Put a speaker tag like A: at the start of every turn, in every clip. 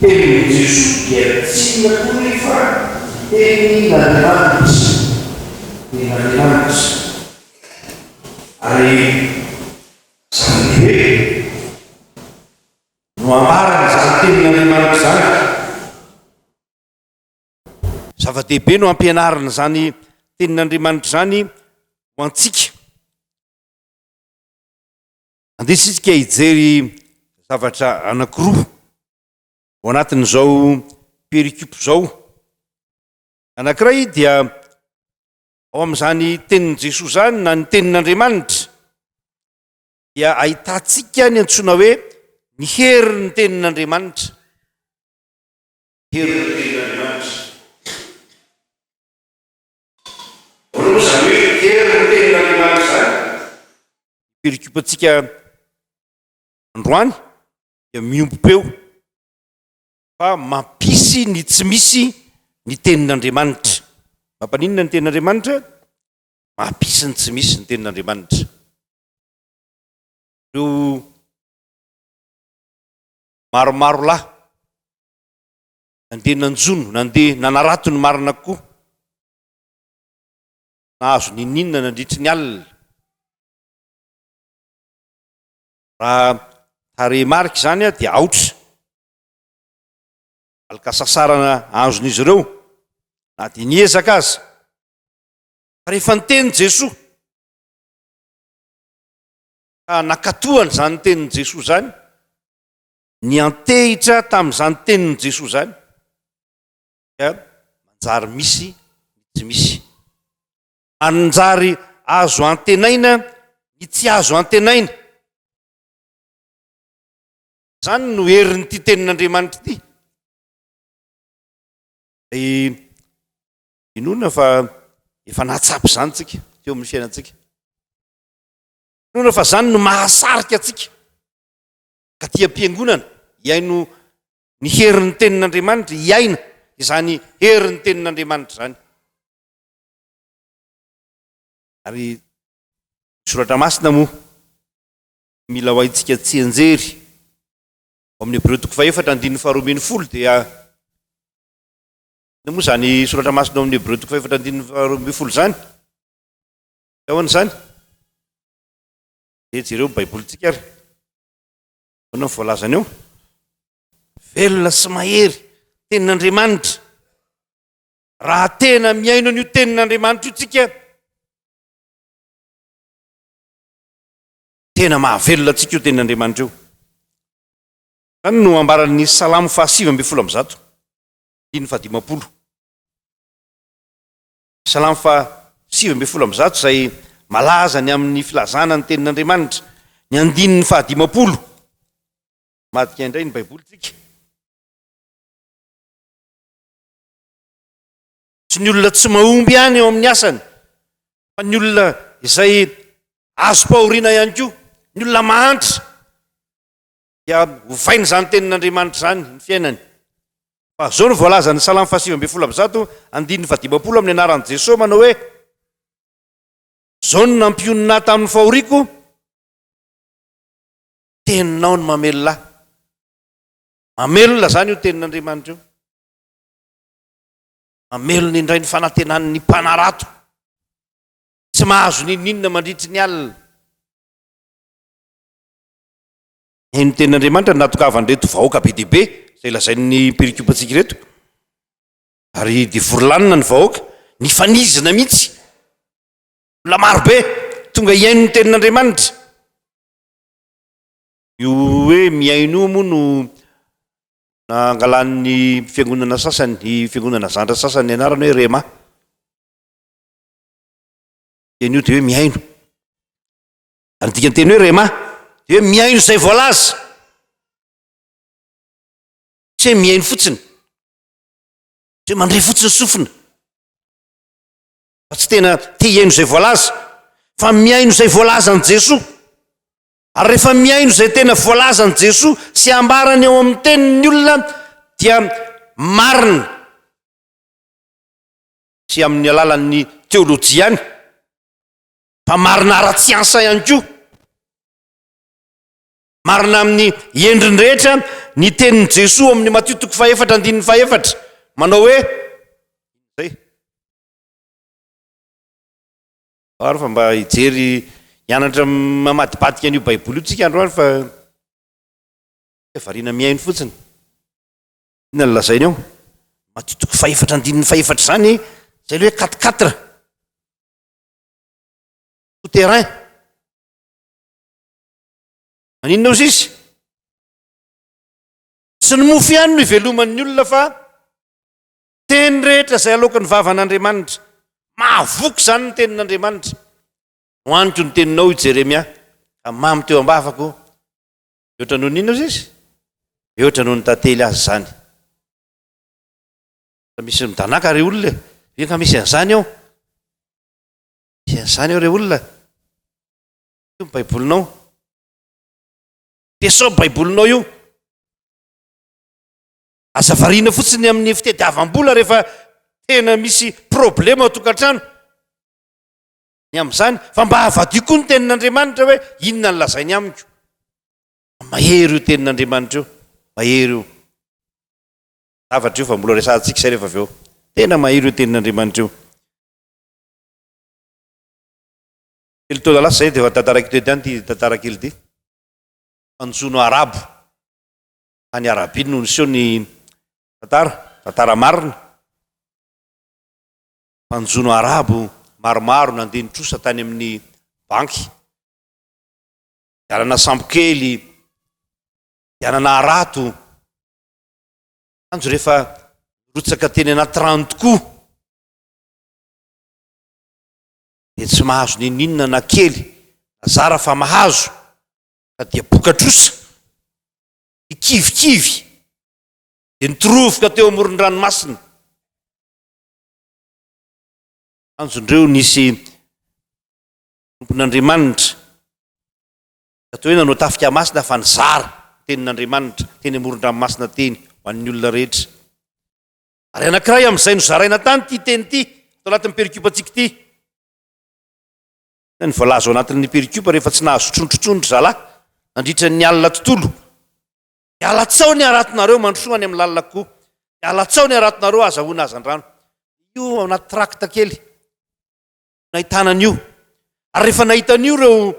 A: Tenin'i Jesoa dia tsy inona koa anie fa ny tenin'Andriamanitra, tenin'Andriamanitra. Ary izany hoe no ambarany izany tenin'Andriamanitra izany. Zava-dehibe no ampianarina izany tenin'Andriamanitra izany ho antsika. Andesitsika hijery zavatra anakiroa ho anatin'izao perikopy izao. Anakiray dia ao amin'izany tenin'i Jesoa izany na ny tenin'Andriamanitra dia ahitantsika ny antsoina hoe ny herin'ny tenin'Andriamanitra. Herin'ny tenin'Andriamanitra. Roa izany hoe hery ny tenin'Andriamanitra izany. Ny pericope-ntsika androany dia miombom-peo fa mampisy ny tsy misy ny tenin'Andriamanitra. Mampaninona ny tenin'Andriamanitra? Mampisy ny tsy misy ny tenin'Andriamanitra. Ireo maromaro lahy Nandeha nanjono, nandeha nanarato ny marina koa. Nahazo n'inon'inona nandritry ny alina. Raha tarehimarika izany dia aotra. Valin-kasasarana azon'izy ireo na dia niezaka aza. Fa rehefa niteny Jesoa, ka nakatohany izany tenin'i Jesoa izany, Niantehitra tamin'izany tenin'i Jesoa izany dia manjary misy ny tsy misy. Anjary azo antenaina ny tsy azo antenaina. Izany no herin'ity tenin'Andriamanitra ity. Dia inoana fa efa nahatsapa izany isika teo amin'ny fiainantsika. Inoana fa izany no mahasarika antsika. Taty am-piangonana, hihaino ny herin'ny Tenin'Andriamanitra, hiaina izany herin'ny Tenin'Andriamanitra izany. Ary ny Soratra Masina moa, mila ho haintsika tsianjery. Ao amin'ny Hebreo toko fahefatra, andininy faharoa ambin'ny folo dia, inona moa izany Soratra Masina ao amin'ny Hebreo toko fahefatra andininy faharoa ambin'ny folo izany? Ahoana izany? Dia jereo ny Baibolintsika ary. Ahoana ny voalazany eo? Velona sy mahery, tenin'Andriamanitra. Raha tena mihaino an'io tenin'Andriamanitra io tsika, tena mahavelona antsika io tenin'Andriamanitra io. Zany no ambaran'ny salamo fahasivy ambin'ny folo ambizato, diny fahadimampolo. Salamo faha sivy ambin'ny folo amby zato izay malaza ny amin' ny filazana ny tenin' Andriamanitra, ny andininy faha dimampolo. Madika indray ny Baiboly tsika. Tsy ny olona tsy mahomby ihany eo amin' ny asany, fa ny olona izay azom-pahoriana ihany koa, ny olona mahantra. dia ovaina izany tenin'Andriamanitra izany ny fiainany. Fa izao no voalazan'ny Salamo fahasivy ambin'ny folo amby zato, andininy fahadimampolo amin'ny anaran'i Jesoa manao hoe, Izao no nampionona ahy tamin'ny fahoriako, teninao no mamelona ahy. Mamelona izany io tenin'Andriamanitra io. Mamelona indray ny fanantenan'ny mpanarato. Tsy mahazo n'inon'inona mandritry ny alina. Haino ny tenin'Andriamanitra ny nahatokavan'ireto vahoaka be dia be izay lazain'ny perikopantsika ireto. Ary dia vory lanina ny vahoaka, nifanizina mihitsy. Olona marobe tonga hihaino ny tenin'Andriamanitra. Io hoe mihaino io moa no nangalan'ny fiangonana sasany, ny fiangonana zandra sasany ny anarany hoe Rhema. Teny io dia hoe mihaino. Ary ny dikan'ny teny hoe rhema dia hoe mihaino izay voalaza. Tsy hoe mihaino fotsiny. Tsy hoe mandre fotsiny sofina. Fa tsy tena te hihaino izay voalaza. Fa mihaino izay voalaza an'i Jesoa. Ary rehefa mihaino izay tena voalaza an'i Jesoa sy ambarany ao amin'ny teniny ny olona dia marina. Tsy amin'ny alalan'ny teolojiany. Fa marina ara-tsiansa ihany koa, marina amin'ny endriny rehetra ny tenin'i Jesoa ao amin'ny Matio toko fahefatra andininy fahefatra, manao hoe zay. Ary fa mba hijery hianatra mamadibadika an'io Baiboly io tsika androany fa variana mihaino fotsiny. Inona no lazainy ao? Matio toko fahefatra andininy fahefatra izany, zay le hoe 44. souterrain maninona ozy izy tsy ny mofo ihany no iveloman'ny olona fa teny rehetra izay aloaka ny vavan'andriamanitra mahavoka izany ny tenin'andriamanitra no aniko ny teninao i jeremia ka mamy teo am-bavako mihoatra noho nina ozy izy mihoatra noho ny tantely azy izany Misy midanàka re olona e! Ve nga misy an'izany ao? Misy an'izany ao re olona? Io ny Baibolinao? Dia sao Baibolinao io? Aza variana fotsiny amin'ny fitadiavam-bola rehefa tena misy problema ao tokantrano. Ny amin'izany, fa mba havadio koa ny tenin'Andriamanitra hoe inona ny lazainy amiko. Mahery io tenin'Andriamanitra io, mahery io. zavatra io fa mbola resahantsika izay rehefa avy eo. Tena mahery io tenin'Andriamanitra io. Telo taona lasa izay dia efa tantara kely ihany ity tantara kely ity. Fanjono arabo. Tany Arabia no niseho ny tantara, tantara marina. Fanjono arabo maromaro nandeha nitrosa tany amin'ny banky. Dalana sambo kely, dalana harato. Andro rehefa rotsaka teny anaty rano tokoa dia tsy mahazo nininona na kely azara fa mahazo ka dia bokatrosa ny kivikivy dia nitorovoka teo amoron-dranomasina anjondreo nisy tompon'Andriamanitra Toy hoe nanao tafika masina fa nizara ny tenin'Andriamanitra teny amoron-dranomasina teny ho an'ny olona rehetra. Ary anankiray amin'izay nozaraina tany ity teny ity ato anatin'ny perikopantsika ity. Inona ny voalaza ao anatin'ny perikopa rehefa tsy nahazo trondro intsony ry zalahy nandritra ny alina tontolo? Miala tsaho ny haratonareo mandrosoa any amin'ny lalina kokoa. Miala tsaho ny haratonareo azahoana hazandrano. Io ao anaty trakta kely. nahitana an'io. Ary rehefa nahita an'io ireo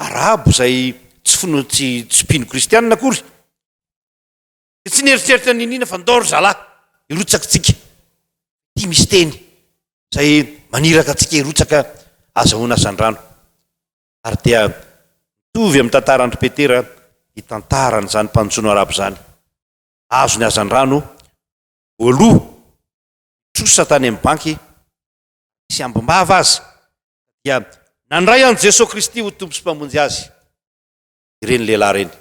A: Arabo izay tsy finoana tsy tsy mpino kristianina akory, dia tsy nieritreritra ny iniana fa ndao ry zalahy, hirotsaka isika. Ity misy teny izay maniraka antsika hirotsaka azahoana asan-drano. Ary dia mitovy amin'ny tantaran'i Petera ny tantaran'izany mpaninjono Arabo izany. Azony azan-drano voaloha, trosa tany amin'ny banky, sy ambim-bava aza, dia nandray an'i Jesoa Kristy ho Tompo sy Mpamonjy azy ireny lehilahy ireny.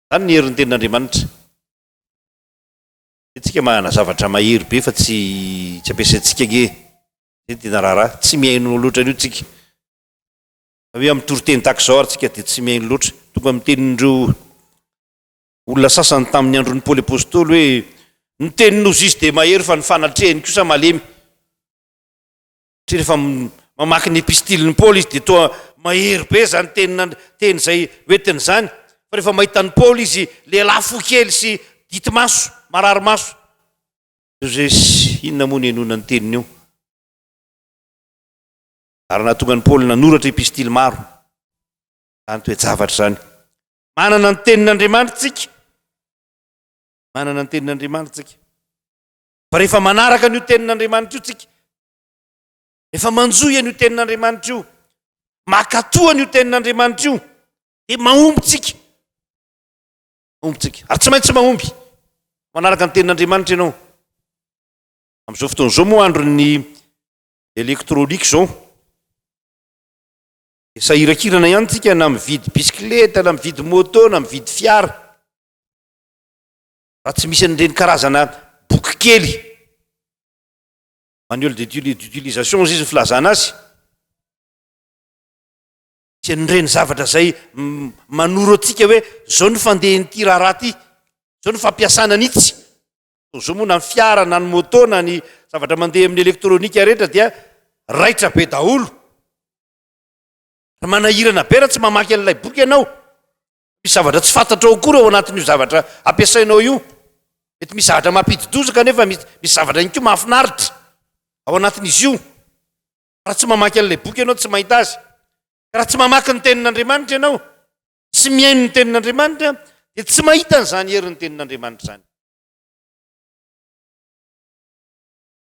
A: Izany ny herin'ny Tenin'Andriamanitra. Isika manana zavatra mahery be fa tsy tsy ampiasaintsika ange. Izay tena raharaha. Tsy mihaino loatra an'io tsika. Raha hoe amin'ny toriteny tahaka izao ary tsika dia tsy mihaino loatra. Tonga amin'ny tenin'ireo Olona sasany tamin' ny andron' i Paoly Apôstôly hoe, Ny tenin' ny Ozizy dia mahery fa ny fanatrehany kosa malemy. Satria rehefa mamaky ny epistilin' i Paoly izy dia toa mahery be izany tenin' Andr. Teny izay hoentiny izany. Fa rehefa mahita an' i Paoly izy, lehilahy fo kely sy dity maso, marary maso. Jesosy inona moa no inoana ny teniny eo? Ary nahatonga an' i Paoly nanoratra epistily maro izany toe-javatra izany. Manana ny tenin'Andriamanitra tsika. Manana ny tenin'Andriamanitra tsika. Fa rehefa manaraka an'io tenin'Andriamanitra io tsika, efa manjohy an'io tenin'Andriamanitra io, makatoa an'io tenin'Andriamanitra io, dia mahomby tsika. Mahomby tsika. Ary tsy maintsy mahomby. Manaraka ny tenin'Andriamanitra ianao. Amin'izao fotoana izao moa andron'ny elektronika izao. Sahirankirana ihany tsika na mividy bisikileta na mividy moto na mividy fiara raha tsy misy an'ireny karazana boky kely manuel d'utilisation izy ny filazana azy tsy an'ireny zavatra zay manoro antsika hoe zao ny fandehan'ity raharaha ty zao ny fampiasana an'itsy zao moa na ny fiara na ny moto na ny zavatra mandeha amin'ny elektronika rehetra dia raitra be daholo Ry manahirana be raha tsy mamaky an'ilay boky ianao. Misy zavatra tsy fantatrao akory ao anatin'io zavatra ampiasainao io. Mety misy zavatra mampidi-doza kanefa misy misy zavatra ihany koa mahafinaritra ao anatin'izy io. Raha tsy mamaky an'ilay boky ianao tsy mahita azy. Ka raha tsy mamaky ny tenin'Andriamanitra ianao, tsy mihaino ny tenin'Andriamanitra dia tsy mahita an'izany herin'ny tenin'Andriamanitra izany.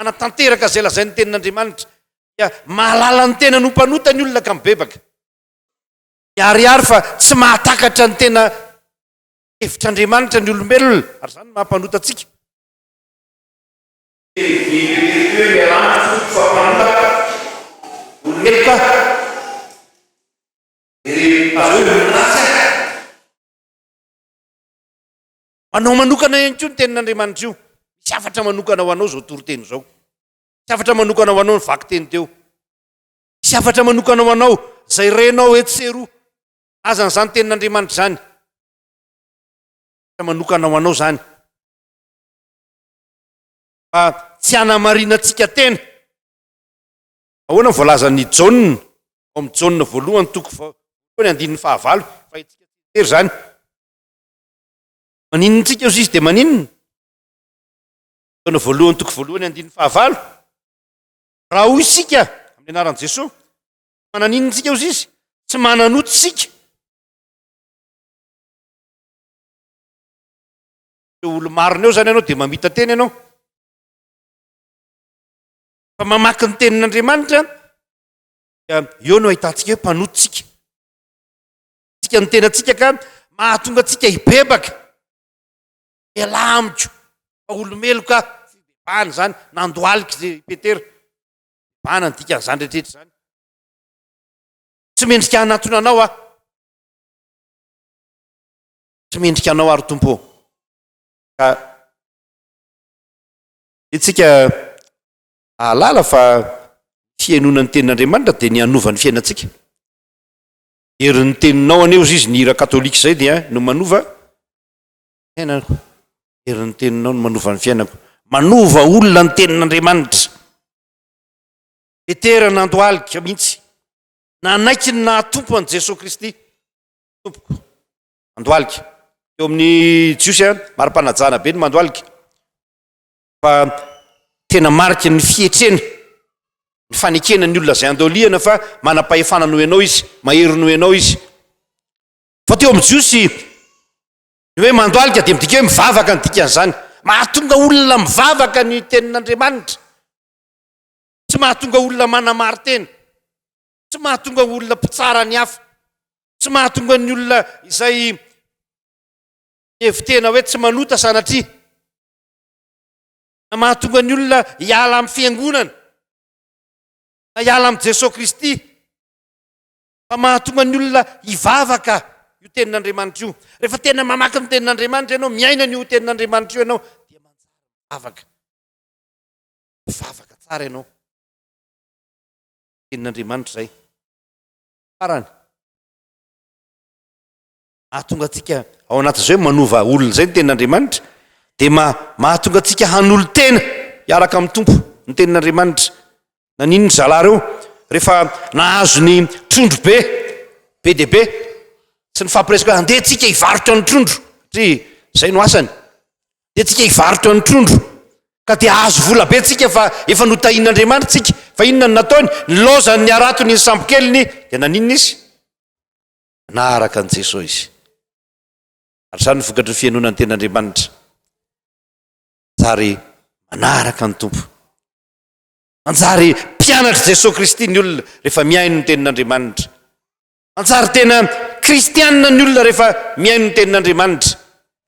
A: hanatanteraka izay lazain'ny Tenin'Andriamanitra, dia mahalala ny tenany ho mpanota ny olona ka mibebaka. Miharihary fa tsy mahatakatra ny tena hevitr'Andriamanitra ny olombelona, ary izany no maha-mpanota antsika. Anao manokana ihany koa ny tenin'Andriamanitra io. Misy hafatra manokana ho anao izao toriteny izao. Misy hafatra manokana ho anao ny vakiteny teo. Misy hafatra manokana ho anao izay renao etsy sy eroa. Azany izany tenin'Andriamanitra izany. Hafatra manokana ho anao izany. Fa tsy hanamarinantsika tena. Ahoana ny voalazan'i Jaona ao amin'ny Jaona voalohany toko voalohany andininy fahavalo. Fa izany. Maninona antsika eo sisa dia maninona? Taona voalohany toko voalohany andininy fahavalo. Raha hoy isika amin'ny anaran'i Jesoa, mananinona antsika eo sisa? Tsy mananoty isika. Eo olo-marina eo zany ianao dia mamita teny ianao. Fa mamaky ny tenin'Andriamanitra dia eo no ahitantsika hoe mpanoty isika. Tsika ny tenantsika ka mahatonga antsika hibebaka. Ialahy amiko fa olomeloka fibebahana izany, nandohalika izay i Petera. Bebahana ny dikan'izany rehetra izany. Tsy mendrika hanatona anao aho. Tsy mendrika anao ary Tompo. Ka itsika ahalala fa fihainoana ny tenin'Andriamanitra dia ny hanova ny fiainantsika. Herin ny teninao anie ozy izy ny hira katolika izay dia no manova fiainako. Herin ny teninao no manova ny fiainako. Manova olona ny tenin Andriamanitra. Petera nandohalika mihitsy. Nanaiky ny naha Tompo an'i Jesoa Kristy. Tompoko. Mandohalika. Teo amin'ny Jiosy an, mari-panajana be ny mandohalika. fa tena mariky ny fietrena ny fanekena ny olona zay andoliana fa manam-pahefana noho ianao izy mahery noho ianao izy fa teo amin'ny jiosy ny hoe mandoalika dia midika hoe mivavaka ny dikan'izany mahatonga olona mivavaka ny tenin'andriamanitra tsy mahatonga olona manamaritena tsy mahatonga olona mpitsara ny hafa tsy mahatonga ny olona izay evitena hoe tsy manota sanatria Na mahatonga ny olona hiala amin'ny fiangonana, na hiala amin'i Jesoa Kristy, fa mahatonga ny olona hivavaka io tenin'Andriamanitra io. Rehefa tena mamaky ny tenin'Andriamanitra ianao, miaina an'io tenin'Andriamanitra io ianao, dia manjary mivavaka. Mivavaka tsara ianao. Tenin'Andriamanitra izay. Farany. Hahatonga antsika ao anatin'izay hoe manova olona izay ny tenin'Andriamanitra, dia mahatonga antsika hanolo-tena hiaraka amin'ny Tompo ny tenin'Andriamanitra. Naninona ry zalahy ireo rehefa nahazo ny trondro be, be dia be, sy nifampiresaka hoe andeha antsika hivarotra ny trondro, satria izay no asany, andeha antsika hivarotra ny trondro, ka dia hahazo vola be tsika fa efa notahin'Andriamanitra tsika. Fa inona no nataony? Nilaozany ny haratony ny sambokeliny, dia naninona izy? na araka an'i Jesoa izy. Ary izany no vokatry ny fihainoana ny Tenin'Andriamanitra. Manjary manaraka ny Tompo. Manjary mpianatr'i Jesoa Kristy ny olona rehefa mihaino ny Tenin'Andriamanitra. Manjary tena kristianina ny olona rehefa mihaino ny Tenin'Andriamanitra.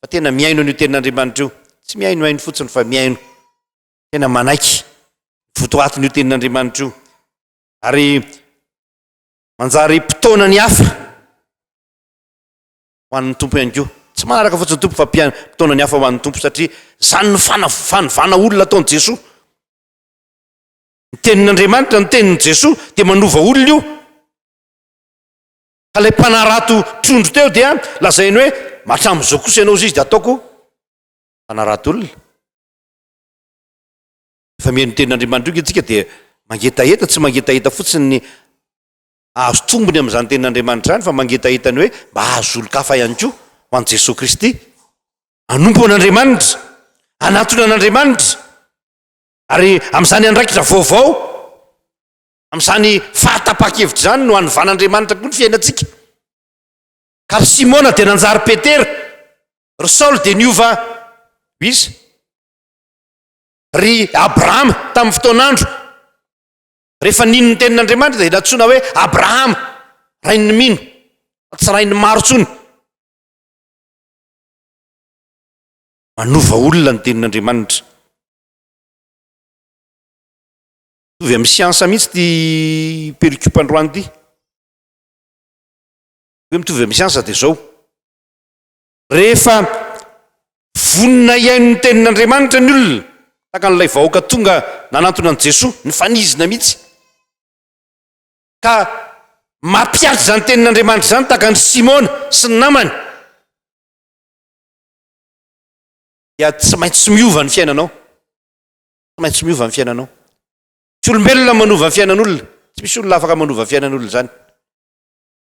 A: Fa tena mihaino an'io Tenin'Andriamanitra io. Tsy mihainohaino fotsiny fa mihaino. Tena manaiky votoatin'io Tenin'Andriamanitra io. Ary Manjary mpitaona ny hafa ho an'ny Tompo ihany koa. Tsy manaraka fotsiny Tompo fa mpitaona ny hafa ho an'ny Tompo satria izany ny fanovana olona ataon'i Jesoa. Ny tenin'Andriamanitra, ny tenin'i Jesoa dia manova olona io. Ka ilay mpanarato trondro teo dia lazainy hoe hatramin'izao kosa ianao izy dia ataoko mpanarato olona. Rehefa mihaino ny tenin'Andriamanitra io isika dia mangetaheta, tsy mangetaheta fotsiny ny hahazo tombony amin'izany tenin'Andriamanitra izany fa mangetaheta ny hoe mba hahazo olon-kafa ihany koa ho an'i Jesoa Kristy. Hanompo an'Andriamanitra, hanatona an'Andriamanitra ary amin'izany andraikitra vaovao, amin'izany fahatapahan-kevitra izany no hanovan'Andriamanitra koa ny fiainantsika. Ka ry Simona dia nanjary Petera, ry Saoly dia niova ho iza? Ry Abrahama tamin'ny fotoan'andro, rehefa nino ny tenin'Andriamanitra dia nantsoina hoe Abrahama, rain'ny mino, tsy rain'ny maro intsony. Manova olona ny tenin'Andriamanitra. Mitovy amin'ny siansa mihitsy ity pericube androany ity. Hoe mitovy amin'ny siansa dia izao. Rehefa vonona hihaino ny Tenin'Andriamanitra ny olona, tahaka an'ilay vahoaka tonga nanantona an'i Jesoa, nifanizina mihitsy, ka mampiady izany Tenin'Andriamanitra izany, tahaka an'i Simona sy ny namany, dia tsy maintsy miova ny fiainanao. Tsy maintsy miova ny fiainanao. Tsy olombelona manova ny fiainan'olona. Tsy misy olona afaka manova ny fiainan'olona izany.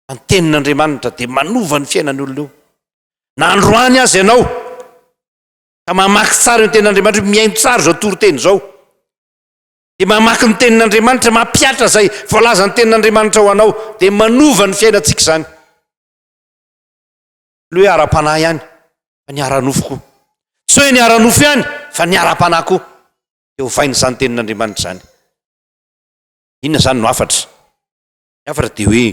A: fa ny tenin'Andriamanitra dia manova ny fiainan'ny olona io. Na androany aza ianao ka mamaky tsara ny tenin'Andriamanitra, mihaino tsara izao toriteny izao. Dia mamaky ny tenin'Andriamanitra, mampihatra izay voalazan'ny tenin'Andriamanitra ho anao, dia manova ny fiainantsika izany. Ny hoe ara-panahy ihany, fa ny ara-nofo koa. Tsy hoe ny ara-nofo ihany, fa ny ara-panahy koa. Dia ovain'izany tenin'Andriamanitra izany. Inona izany no hafatra? Ny hafatra dia hoe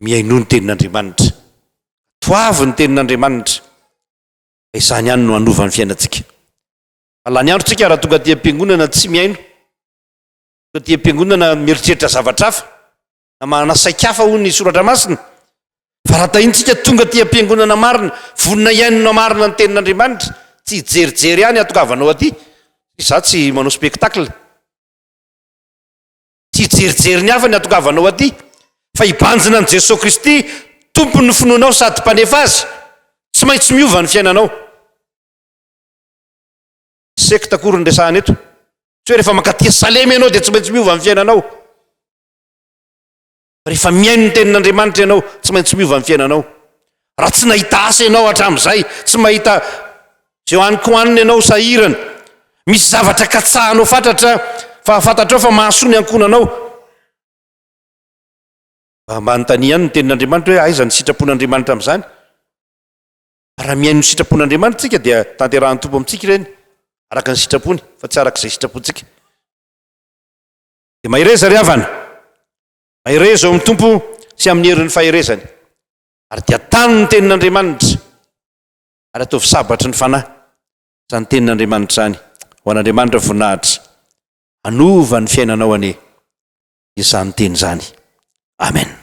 A: mihainoa ny tenin'Andriamanitra. Toavy ny tenin'Andriamanitra. Fa izany ihany no hanova ny fiainantsika. Fa lany andro tsika raha tonga aty am-piangonana tsy mihaino. Tonga aty am-piangonana mieritreritra zavatra hafa. Na manana saika hafa hono ny soratra masina. Fa raha tahintsika tonga aty am-piangonana marina, vonona hihainona marina ny tenin'Andriamanitra, tsy hijerijery ihany hatokavanao aty. Izaho tsy manao spectacle. Tsy hijerijery ny hafa ny hatongavanao aty, fa hibanjina an'i Jesoa Kristy, Tompon'ny finoanao sady Mpanefa azy. Tsy maintsy miova ny fiainanao. Sekta akory ny resahana eto. Tsy hoe rehefa mankaty Salema ianao dia tsy maintsy miova ny fiainanao. Rehefa mihaino ny tenin'Andriamanitra ianao, tsy maintsy miova ny fiainanao. Raha tsy nahita asa ianao hatramin'izay, tsy mahita izay hohaniko hanina ianao sahirana, misy zavatra katsahanao fatratra fa fantatrao fa mahasoa ny ankohonanao. Mba manontania ihany ny tenin'Andriamanitra hoe aiza ny sitrapon'Andriamanitra amin'izany? Raha mihaino ny sitrapon'Andriamanitra tsika dia tanterahan'ny Tompo amintsika ireny araka ny sitrapony fa tsy araka izay sitrapontsika. Dia mahereza ry havana, mahereza eo amin'ny Tompo sy amin'ny herin'ny faherezany, ary dia tano ny tenin'Andriamanitra, ary ataovy sabatry ny fanahy izany tenin'Andriamanitra izany, ho an'Andriamanitra voninahitra, hanova ny fiainanao anie izany teny izany. Amen.